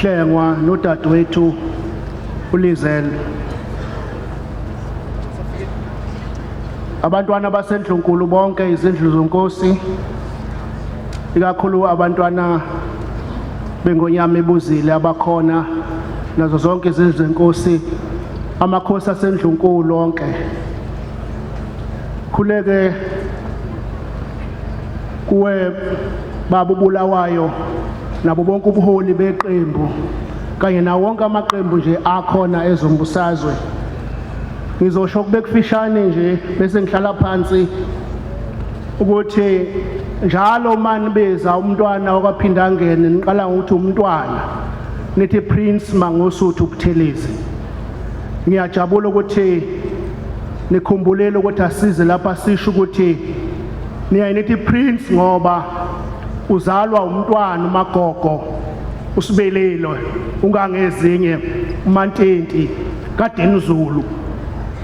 Hlengwa nodadewethu uLizel abantwana basendlunkulu bonke izindlu zonkosi ikakhulu abantwana bengonyama ebuzile abakhona nazo zonke izindlu zenkosi amakhosi asendlunkulu onke khuleke kuwe baba uBulawayo nabo bonke ubuholi beqembu kanye nawo wonke amaqembu nje akhona ezombusazwe ngizosho kube kufishane nje bese ngihlala phansi ukuthi njalo mani beza umntwana wakwaphindangene niqala ngokuthi umntwana nithi prince mangosuthu ubuthelezi ngiyajabula ukuthi nikhumbulele ukuthi asize lapha sisho ukuthi Niyaye nithi prince ngoba uzalwa umntwana umagogo usibelelo ungangezinye umantenti kaDinizulu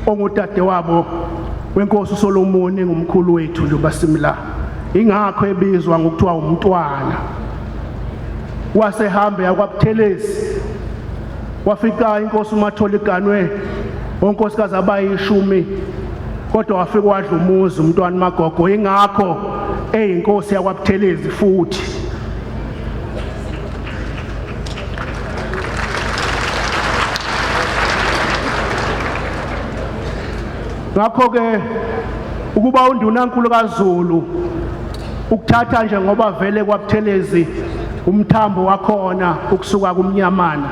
ongudade wabo wenkosi uSolomon engumkhulu wethu nje basimla ingakho ebizwa ngokuthiwa umntwana wasehambe yakwabuthelezi Wafika inkosi uMatholi iganwe onkosikazi abayishumi kodwa wafika wadla umuzi umntwana uMagogo ingakho eyinkosi yakwaButhelezi futhi ngakho-ke ukuba undunankulu kaZulu Ukuthatha nje ngoba vele kwaButhelezi umthambo wakhona ukusuka kumnyamana.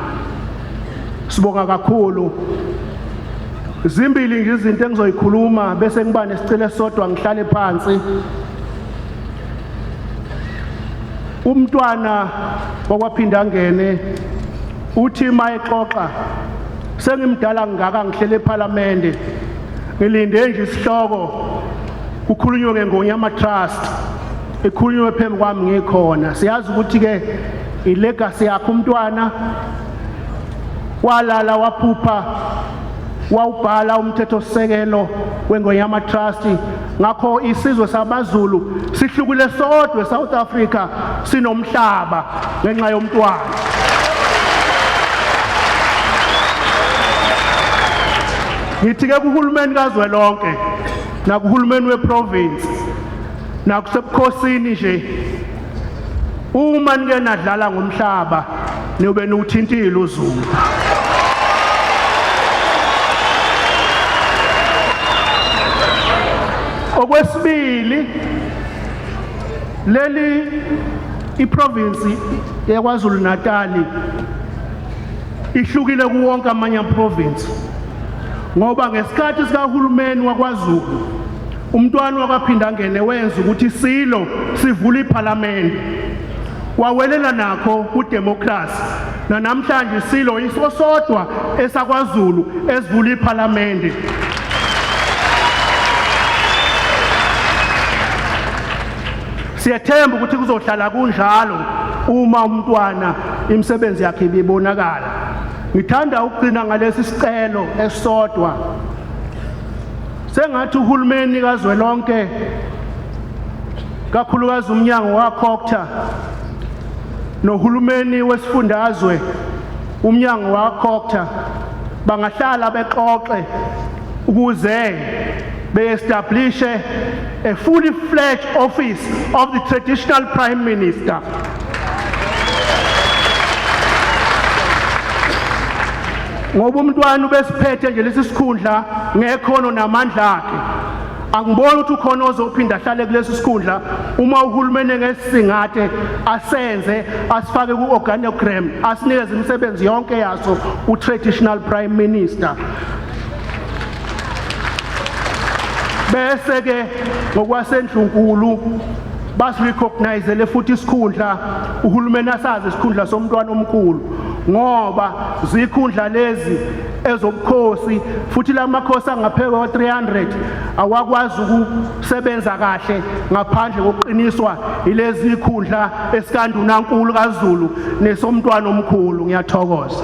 Sibonga kakhulu. Zimbili nje izinto engizoyikhuluma bese ngiba nesicelo esodwa ngihlale phansi. Umntwana wakwaphinda ngene uthi mayexoxa sengimdala ngaka ngihlele ePhalamende ngilinde nje isihloko Kukhulunywe ke ngoNyama Trust ekhulunywe phambi kwami ngikhona siyazi ukuthi ke ilegacy yakhe umntwana walala waphupha wawubhala umthethosisekelo weNgoyama Trust ngakho isizwe sabaZulu sihlukile sodwa eSouth Africa sinomhlaba ngenxa yomntwana ngithi ke kuhulumeni kazwelonke nakuhulumeni weprovince nakusebukhosini nje uma nike nadlala ngomhlaba niyobe niwuthintile uzulu okwesibili leli iprovince yaKwaZulu Natali ihlukile kuwonke amanye amaprovince ngoba ngesikhathi sikahulumeni wakwaZulu umntwana wakwaPhindangene wenza ukuthi silo sivula iphalamende wawelela nakho kudemokhrasi nanamhlanje silo iso sodwa esakwaZulu esivula iphalamende siyethemba ukuthi kuzohlala kunjalo uma umntwana imisebenzi yakhe ibibonakala Ngithanda ukugcina ngalesi sicelo esisodwa. Sengathi uhulumeni kazwelonke kakhulukazi umnyango wakhokutha nohulumeni wesifundazwe umnyango wakhokutha bangahlala bexoxe ukuze beestablishe a fully fledged office of the traditional prime minister ngoba umntwana ubesiphethe nje lesi sikhundla ngekhono namandla akhe angiboni ukuthi ukhona ozophinda ahlale kulesi sikhundla uma uhulumeni ngesisingathe asenze asifake ku-organogram asinikeze imisebenzi yonke yaso u-traditional prime minister bese ke ngokwasendlunkulu basirecognizele futhi isikhundla uhulumeni asazi isikhundla somntwana omkhulu ngoba zikhundla lezi ezobukhosi futhi lamakhosi angaphezulu 300 awakwazi sebenza kahle ngaphandle kokuqiniswa yilezi zikhundla esikandunankulu kaZulu nesomntwana omkhulu ngiyathokoza